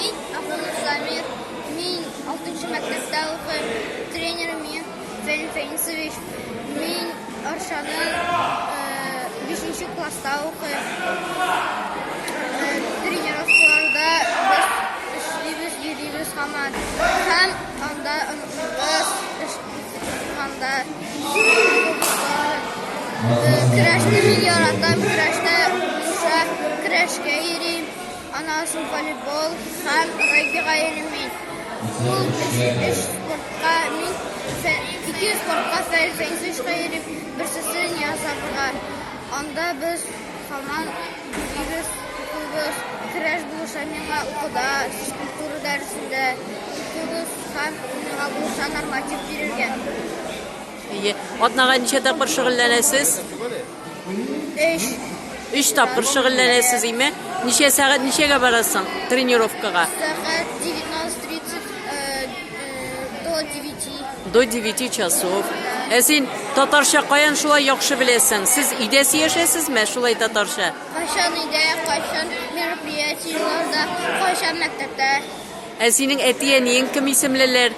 Мин Ахунов Самир, мин 6 мәктәптә укыйм. Тренерым мин Фәнил Фәнисович. Мин Арчаның 5 э, класста укыйм. Э, тренировкаларда без эшлибез, йөрибез һаман. Һәм анда онытмабыз, анда көрәшне мин яратам, көрәштә, көрәшкә йөрим. Ана ашы волейбол һәм регби-гаилемин. Ул өчесе спортка мин ике спортка сәй фәнсеш гаилем, берсесен язабыга. Анда без хаман бирес кубыз, керәш булыша миңа укуда, физкультура дәресендә кубыз һәм миңа булыша норматив бирелгән. Әйе. Атнага ничә тапкыр шөгыльләнәсез? Өч. Өч тапкыр шөгыльләнәсез, име? Ничә сәгать, ничәгә барасың тренировкага? Сәгать 19.30 э, э, до 9. До 9 часов. Ә син татарча каян шулай яхшы беләсең? Сез өйдә сөйләшәсезме шулай татарча? Кайчан өйдә, кайчан мероприятиеләрдә, кайчан мәктәптә. Ә синең әти-әниең кем исемлеләр?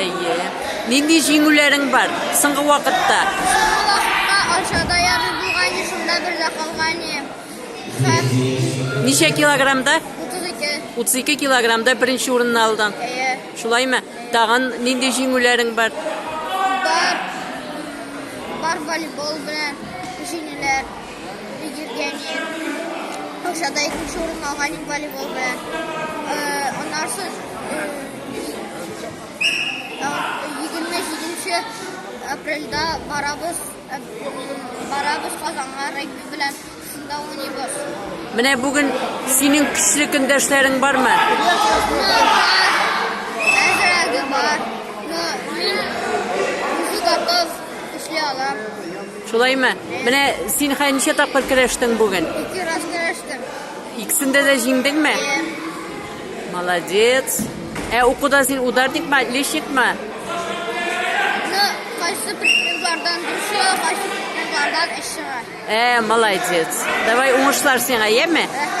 Әйе. Нинди җиңүләрең бар соңгы вакытта? Соңгы вакытта Арчада ярый булган идем, шунда бер дә калган идем. Һәм... Ничә килограммда? 32. 32 килограммда беренче урынны алдың. Әйе. Шулаймы? Тагын нинди җиңүләрең бар? Бар. Бар волейбол белән җиңүләр. Каушада икенче урынны алган идек волейбол белән. Аннан соң 27 апрельдә барабыз барабыз Казанга регби белән шунда уйныйбыз. Менә бүген синең көчле көндәшләрең бармы? Әзрәге бар. Но мин уже готов эшли алам. Шулаймы? Менә син хәй ничә тапкыр көрәштең бүген? Ике раз көрәштем. Икесендә дә җиңдеңме? Молодец. Ә укуда син ударникмы, отличникмы? Ну, кайсы предметлардан дөрес, кайсы предметлардан эш чыга. Ә, молодец. Давай уңышлар сиңа, яме? Рәхмәт.